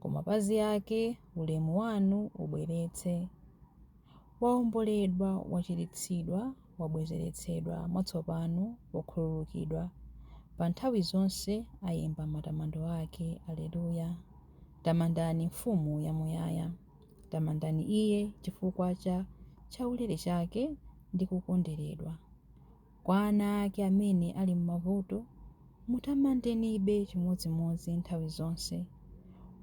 ku mapazi ake ulemu wanu ubweretse. Waomboledwa, wachiritsidwa, wabwezeretsedwa mwatsopano, wakhululukidwa, pa nthawi zonse ayimba matamando ake. Aleluya! Tamandani Mfumu yamuyaya. Tamandani Iye chifukwa cha chaulere chake ndi kukonderedwa. Kwa ana ake amene ali m'mavuto, mutamandenibe chimodzimodzi nthawi zonse.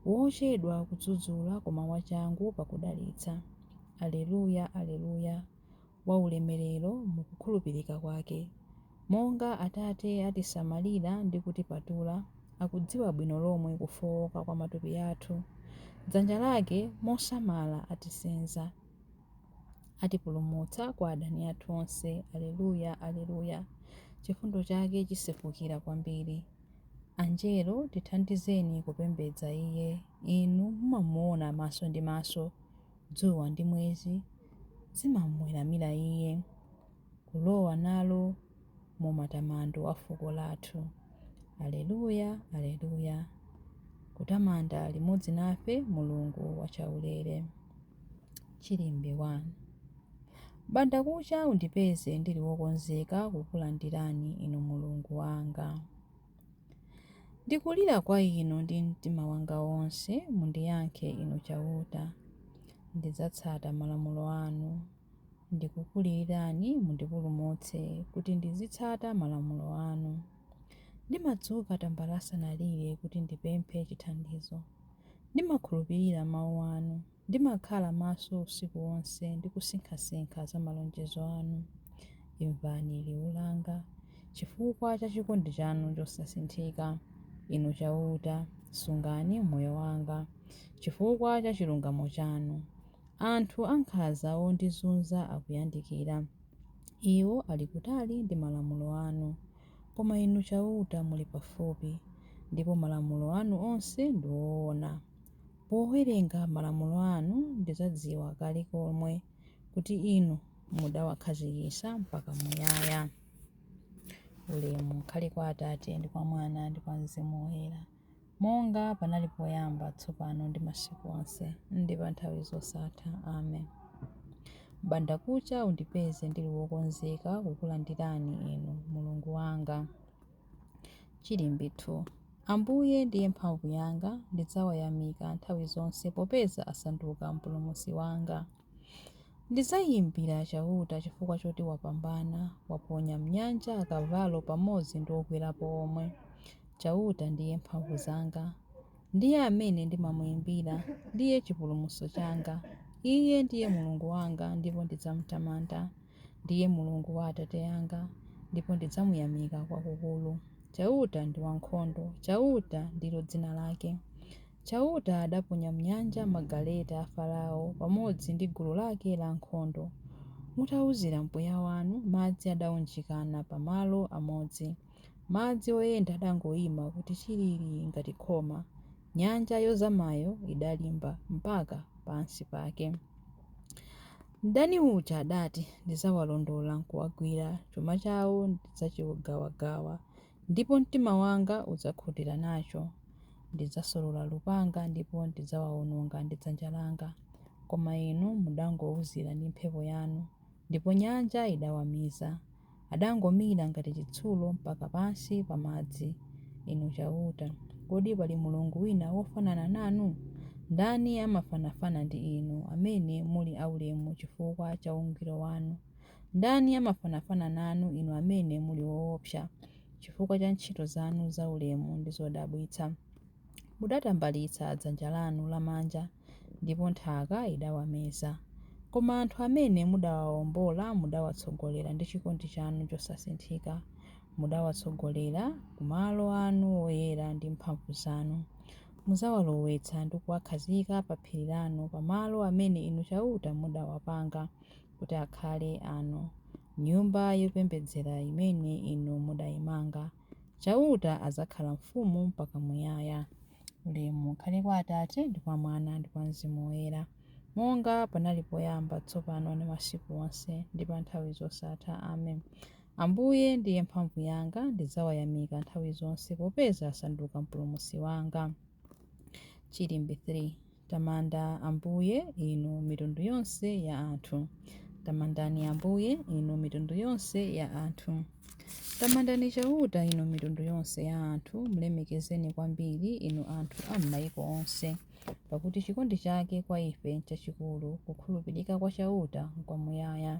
Wochedwa kudzudzula koma wachangu pakudalitsa. Aleluya, aleluya, Waulemerero mu kukhulupirika kwake. Monga Atate atisamalira ndi kutipatula, akudziwa bwino lomwe kufowoka kwa matupi athu. Dzanja lake mosamala atisenza. Atipulumutsa kwa adani athu onse. Aleluya, aleluya. Chifundo chake chisefukira kwambiri. Anjelo, tithandizeni kupembedza Iye. Inu mumamuona maso ndi maso. Dzuwa ndi mwezi zimamuweramira Iye. Kulowa nalo mu matamando a fuko lathu. Aleluya, aleluya. Kutamanda limodzi nafe Mulungu wachaulere. Chilimbe 1. M'bandakucha undipeze ndili wokonzeka kukulandirani, Inu Mulungu wanga. Ndikulira kwa Inu ndi mtima wanga wonse, mundiyankhe, Inu Chauta. Ndidzatsata malamulo anu. Ndikukulirirani, mundipulumutse, kuti ndizitsata malamulo anu. Ndimadzuka tambala asanalire kuti ndipemphe chithandizo. Ndimakhulupirira Mawu Anu. Ndimakhala maso usiku wonse ndi kusinkhasinkha za malonjezo Anu. Imvani liwu langa. Chifukwa cha chikondi Chanu chosasinthika, Inu Chauta, sungani moyo wanga. Chifukwa cha chilungamo Chanu, anthu ankhanza ondizunza akuyandikira. Iwo ali kutali ndi malamulo Anu. Koma Inu Chauta muli pafupi, ndipo malamulo anu onse ndi oona. Powerenga malamulo anu, ndidzadziwa kale komwe kuti Inu mudawakhazikitsa mpaka muyaya. Ulemu ukhale kwa Atate, ndi kwa Mwana, ndi kwa Mzimu Woyera. monga panali poyamba, tsopano ndi masiku onse, ndi pa nthawi zosatha. Amen. M'bandakucha undipeze ndili wokonzeka kukulandirani Inu, Mulungu wanga. Chilimbe 2. Ambuye ndiye mphamvu yanga, ndidzawayamika nthawi zonse, popeza asanduka Mpulumutsi wanga. Ndidzayimbira Chauta chifukwa choti wapambana, waponya m'nyanja akavalo pamodzi ndi okwerapo omwe. Chauta ndiye mphamvu zanga, ndiye amene ndimamuimbira, ndiye chipulumutso changa. Iye ndiye Mulungu wanga, ndipo ndidzamtamanda. Ndiye Mulungu wa atate anga, ndipo ndidzamuyamika kwakukulu. Chauta ndi wankhondo, Chauta ndilo dzina lake. Chauta adaponya m'nyanja magaleta a Farao pamodzi ndi gulu lake lankhondo. Mutauzira mpweya wanu, madzi adaunjikana pa malo amodzi. Madzi oyenda adangoima kuti chilili ngati khoma. Nyanja yozamayo idalimba mpaka pansi pake. Mdani uja adati, Ndidzawalondola nkuwagwira, chuma chawo ndidzachigawagawa, ndipo mtima wanga udzakhutira nacho. Ndidzasolola lupanga ndipo ndidzawaononga ndi dzanja langa. Koma inu mudangouzira ndi mphepo yanu, ndipo nyanja idawamiza. adangomira ngati chitsulo mpaka pansi pa madzi. Inu Chauta, kodi pali Mulungu wina wofanana nanu? Ndani amafanafana ndi Inu, amene muli aulemu chifukwa cha ungwiro wanu? Ndani amafanafana nanu, Inu amene muli woopsa chifukwa cha ntchito zanu zaulemu ndi zodabwitsa? Mudatambalitsa dzanja lanu lamanja. ndipo nthaka idawameza. Koma anthu amene mudawaombola mudawatsogolera ndi chikondi chanu chosasinthika. Mudawatsogolera ku malo anu oyera ndi mphamvu zanu. Mudzawalowetsa ndi kuwakhazika pa phiri lanu, pa malo amene Inu Chauta mudawapanga kuti akhale anu, Nyumba yopembedzera imene Inu mudaimanga. Chauta adzakhala mfumu mpaka muyaya. Ulemu ukhale kwa Atate, ndi kwa Mwana, ndi kwa Mzimu Woyera, monga panali poyamba, tsopano, ndi masiku onse, ndi pa nthawi zosatha. Amen. Ambuye ndiye mphamvu yanga, ndidzawayamika nthawi zonse, popeza asanduka mpulumutsi wanga. Chilimbi 3. Tamanda Ambuye, inu mitundu yonse ya anthu. Tamandani Ambuye, inu mitundu yonse ya anthu. Tamandani Chauta, inu mitundu yonse ya anthu, mlemekezeni kwambiri, inu anthu a m'maiko onse. Pakuti chikondi chake kwa ife nchachikulu, kukhulupirika kwa Chauta nkwamuyaya.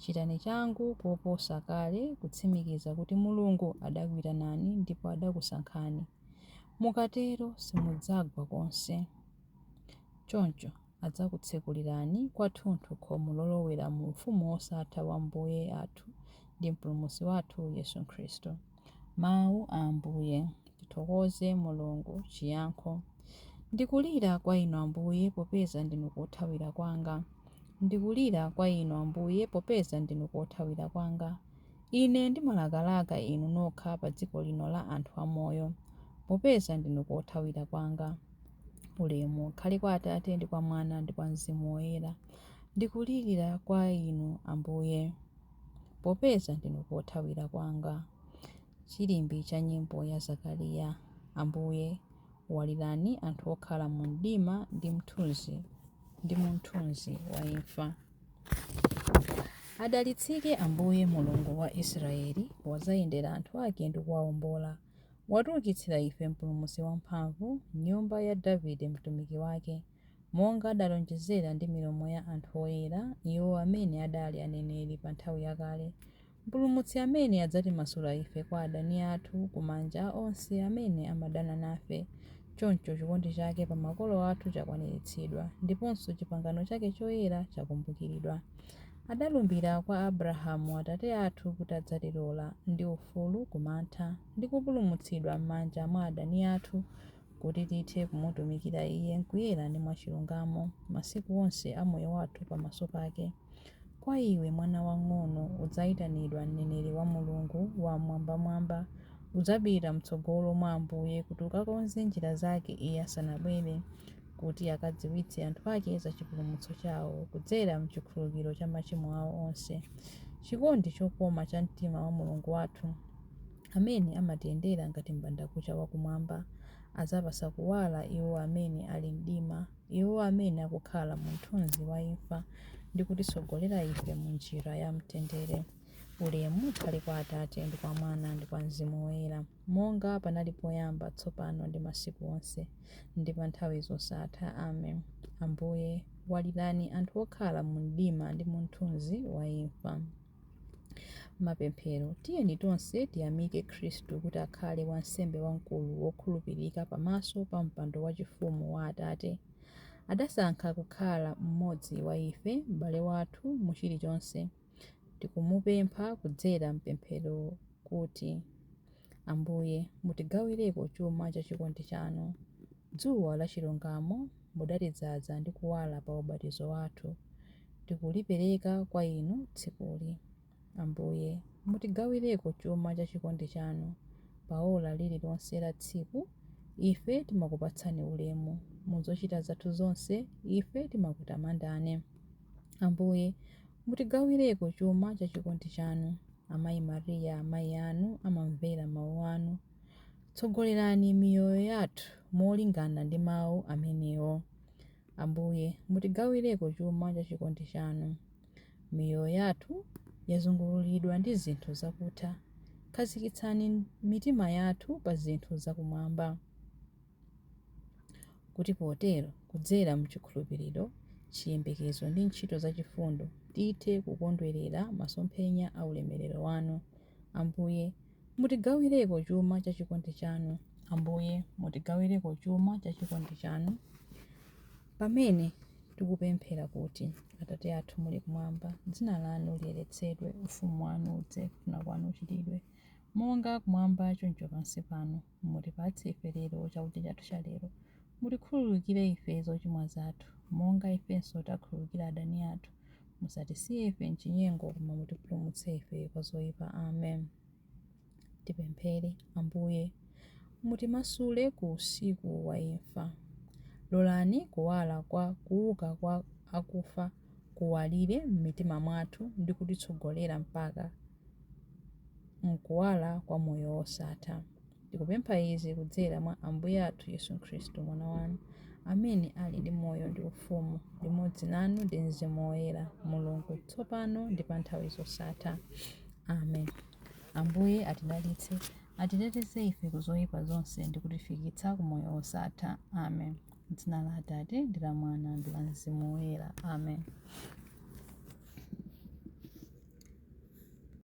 Chitani changu koposa kale kutsimikiza kuti Mulungu adakuitanani ndipo adakusankhani. Mukatero simudzagwa konse. Choncho adzakutsekulirani kwathunthu khomo lolowera mu ufumu wosatha wa Ambuye athu ndi Mpulumutsi wathu Yesu Khristu. Mawu a Ambuye. Tithokoze Mulungu. Chiyankho Ndikulira kwa Inu Ambuye, popeza ndinu kothawira kwanga. Ndikulira kwa Inu Ambuye, popeza ndinu kothawira kwanga. Ine ndimalakalaka Inu nokha pa dziko lino la anthu amoyo, popeza ndinu kothawira kwanga. Ulemu ukhale kwa Atate ndi kwa Mwana ndi kwa Mzimu Woyera. Ndikulira kwa Inu Ambuye. popeza ndinu kothawira kwanga. Chilimbi cha nyimbo ya Zakariya Ambuye, walirani anthu okhala mu mdima ndi mu mthunzi wa imfa. Adalitsike Ambuye Mulungu wa Israeli, wadzayendera anthu ake ndi kuwaombola. Watiukitsira ife mpulumutsi wamphamvu, m'nyumba ya Davide mtumiki wake. monga adalonjezera ndi milomo ya anthu oyera, iwo amene adali aneneri pa nthawi yakale, Mpulumutsi amene adzatimasula ife kwa adani athu ku manja a onse amene amadana nafe. Choncho chikondi chake pa makolo athu chakwaniritsidwa, ndiponso chipangano chake choyera chakumbukiridwa. Adalumbira kwa Abrahamu atate athu kuti adzatilola ndi ufulu ku mantha, ndi kupulumutsidwa m'manja mwa adani athu, kuti tithe kumutumikira Iye m'kuyera ndi mwachilungamo masiku onse a moyo wathu pamaso pake. Kwa iwe, mwana wang'ono, udzaitanidwa mneneri wa Mulungu Wam'mwambamwamba. Udzapita m'tsogolo mwa Ambuye kuti ukakonze njira zake Iye asanabwere, kuti akadziwitse anthu ake za chipulumutso chao kudzera m'chikhululukiro cha machimo ao onse. Chikondi chokoma cha mtima wa Mulungu wathu. Amene amatiyendera ngati m'bandakucha wa kumwamba, adzapatsa kuwala iwo amene ali m'mdima, iwo amene akukhala mu mthunzi wa imfa, ndi kutitsogolera ife mu njira ya mtendere. Ulemu ukhale kwa Atate, ndi kwa Mwana, ndi kwa Mzimu Woyera, monga panali poyamba, tsopano, ndi masiku onse, ndi pa nthawi zosatha. Amen. Ambuye, walirani anthu okhala mu mdima ndi mu mthunzi wa imfa. Mapemphero, tiyeni tonse tiyamike Khristu kuti akhale wansembe wamkulu wokhulupirika pamaso pa mpando wachifumu wa Atate. Adasankha kukhala mmodzi wa ife, m'bale wathu mu chilichonse. Tikumupempha kudzera m'pemphero kuti, Ambuye, mutigawireko chuma cha chikondi chanu. Dzuwa la chilungamo, mudatidzadza ndi kuwala pa ubatizo wathu. tikulipereka kwa Inu tsikuli. Ambuye, mutigawireko chuma cha chikondi chanu, pa ora lirilonse la tsiku, ife timakupatseni ulemu, mu zochita zathu zonse ife timakutamandeni. Ambuye, mutigawireko chuma cha chikondi chanu, Amayi Maria, amayi anu amamvera Mawu Anu. Tsogolerani miyoyo yathu molingana ndi Mawu amenewo. Ambuye, mutigawireko chuma cha chikondi chanu. Miyoyo yathu yazungululidwa ndi zinthu zakutha, khazikitsani mitima yathu pa zinthu za kumwamba, kuti potero, kudzera m'chikhulupiriro, chiyembekezo ndi ntchito zachifundo, tithe kukondwerera masomphenya a ulemerero wanu, Ambuye, mutigawireko chuma cha chikondi chanu. Ambuye, mutigawireko chuma cha chikondi chanu pamene tikupemphera kuti, Atate athu muli kumwamba, dzina lanu liyeretsedwe, ufumu wanu udze, kufuna kwanu kuchitidwe, monga kumwamba choncho pansi pano. Mutipatse ife lero chakudya chathu cha lero. Mutikhululukire ife zochimwa zathu, monga ifenso takhululukira adani athu. Musatisiye ife m'chinyengo, koma mutipulumutse ife kwa zoipa. Amen. Tipemphere. Ambuye, mutimasule ku usiku wa imfa. Lolani kuwala kwa kuuka kwa akufa kuwalire m'mitima mwathu ndi kutitsogolera mpaka. m'kuwala kwa moyo wosatha. Tikupempha izi kudzera mwa Ambuye athu Yesu Khristu, Mwana wanu, amene ali ndi moyo ndi ufumu limodzi nanu ndi Mzimu Woyera, Mulungu, tsopano ndi pa nthawi zosatha. Amen. Ambuye atidalitse, atiteteze ife ku zoyipa zonse ndi kutifikitsa ku moyo wosatha. Amen. M'dzina la Atate ndi la Mwana ndi la Mzimu Woyera. Amen.